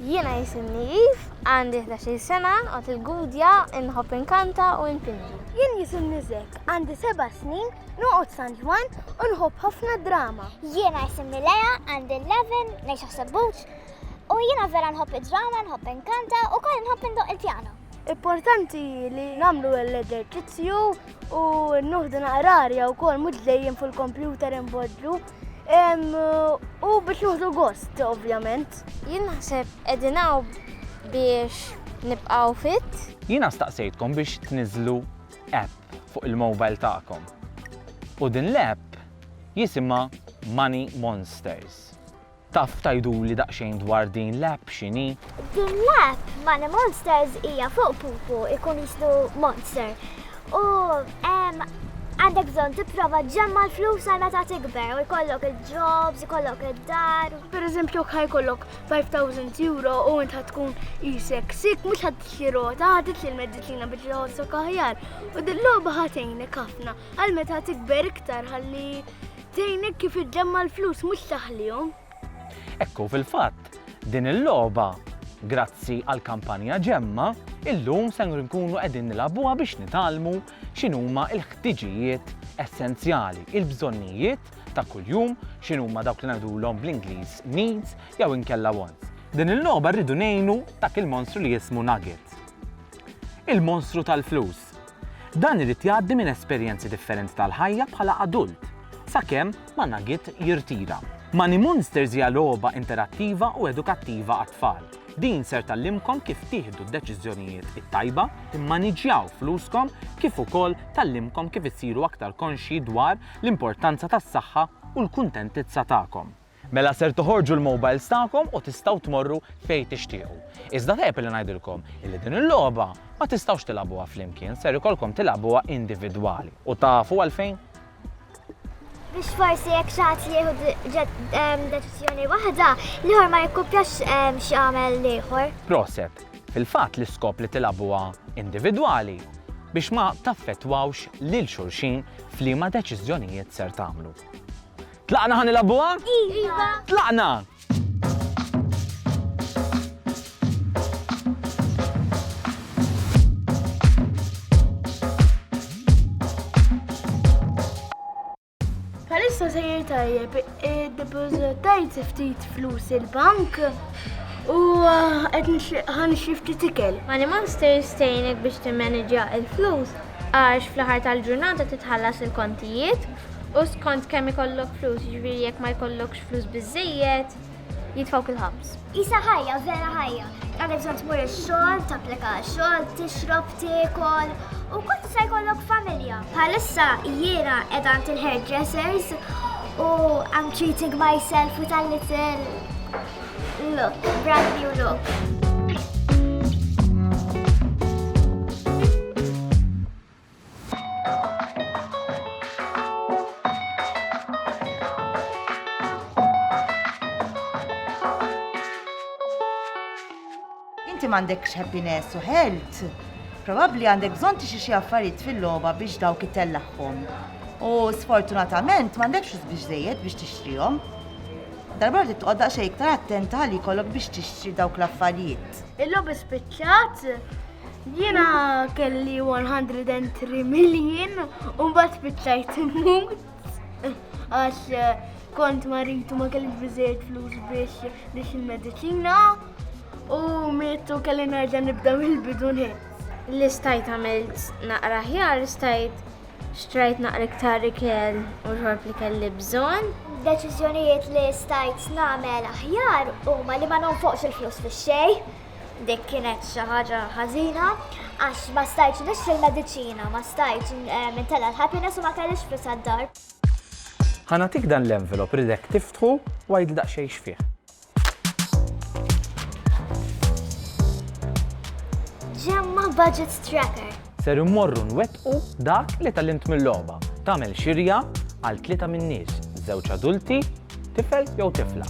Jiena jisimni Eve, għandi 13 sena, għat il-gudja, inħobb inkanta u infinġi. Jien jisimni Zek, għandi 7 snin, noqgħod San Ġwan u nħobb ħafna drama. Jiena jisimni Lea, għandi 11, ngħix ħsebbuċ, u jiena vera nħobb id-drama, nħobb inkanta u koll nħobb indoq il-pjano. Importanti li namlu l-eżerċizzju u nuħdu naqrarja u kol mux dejjem fuq il-kompjuter imbodlu u biex nuħdu gost, ovvjament. Jien naħseb edinaw biex nibqaw fit. Jina staqsejtkom biex tniżlu app fuq il-mobile ta'kom. U din l-app jisima Money Monsters. Taf tgħiduli daqsxejn dwar din l-app x'inhi? Din l-app Money Monsters hija fuq pupu ikun jislu monster. U għandek bżonn tipprova ġemma l-flus għal meta tikber u jkollok il-jobs, jkollok id-dar. Per eżempju, kħaj kollok 5000 euro u int tkun jisek sik, mux ħad t-xirota, ħad t-li l-medicina biex jħossok aħjar. U dil-loba ħatejnek ħafna għal meta tikber iktar ħalli Tgħinek kif iġġemma' l-flus mhux taħlihom. Hekk hu fil-fatt, din il-logħba, grazzi għall-kampanja Ġemma, illum ser inkunu qegħdin nilagħbuha biex nitgħallmu x'inhuma l-ħtiġijiet essenzjali, il-bżonnijiet ta' kuljum, x'inhuma dawk li ngħidulhom bl-Ingliż needs jew inkella wants. Din il-logħba rridu ngħinu dak il-monstru li jismu Nugget. Il-monstru tal-flus. Dan irid jgħaddi minn esperjenzi differenti tal-ħajja bħala adult, sakemm ma Nugget jirtira. Moneymoonsters hija logħba interattiva u edukattiva għat-tfal. Din ser tgħallimkom kif tieħdu d-deċiżjonijiet it-tajba, timmaniġġjaw fluskom kif ukoll tgħallimkom kif issiru aktar konxji dwar l-importanza tas-saħħa u l-kuntentizza tagħkom. Mela ser toħorġu l-mobiles tagħkom u tistgħu tmorru fejn tixtiequ. Iżda tajjeb illi ngħidilkom illi din il-logħba ma tistgħux tilgħabuha flimkien, ser ikollkom tilgħabuha individwali. U tafu għalfejn? Biex forsi jekk xi ħadd jieħu deċiżjoni waħda, l-ieħor ma jikkupjax xi għamel l-ieħor. Proset, fil-fatt l-iskop li tilgħabuha individwali biex ma taffettwawx lil xulxin f'liema deċiżjonijiet ser tagħmlu. Tlaqna ħa nilgħabuha? Iva! Tlaqna! Bħalissa sejjer tajjeb, id-depożitajt ftit flus il-bank u qed ħan xifti tikel. Money Monster jistejnek biex timmaneġja il-flus għax fl-aħħar tal-ġurnata titħallas il-kontijiet U skont kemm ikollok flus, jiġifieri jekk ma jkollokx flus biżejjed, jitfgħuk il-ħabs. Isa ħajja, vera ħajja. Għandek bżonn tmur ix-xogħol, tapplika xogħol, tixrob, tiekol, u kont se jkollok familja. Bħalissa jiena qed għand il-hairdressers u I'm treating myself with a little look, brand new look. Inti m'għandekx happiness u health. Probabbli għandek bżonn tixi xi affarijiet fil-logħba biex dawk itellagħhom. U sfortunatament m'għandekx biex żejjed biex tixtrihom. Darba li tqodda xejn iktar attenta li jkollok biex tixtri dawk l-affarijiet. Il-logħba spiċċat Jiena kelli 103 million u mbagħad spiċċajt immut għax eh, kont maritu ma kellix biżejjed flus biex biex il-mediċina u mietu kelli nerġa' nibda mill-bidu Li stajt għamilt naqra ħjar, stajt xtrajt naqra iktar ikel u xorb li kelli bżonn. Deċiżjonijiet li stajt nagħmel aħjar huma li ma nonfoqx il-flus fix-xejn. Dik kienet xi ħaġa ħażina għax ma stajtx nixtri l-mediċina, ma stajtx eh, nitella l-happiness u ma kellix flus għad-dar. Ħanatik dan l-envelop ridek tiftħu u għid daqsxejn x'fih. Ġemma budget tracker. Ser immorru nwettqu dak li tgħallimt mil-logħba, tagħmel xirja għal tlieta min-nies, żewġ adulti, tifel jew tifla.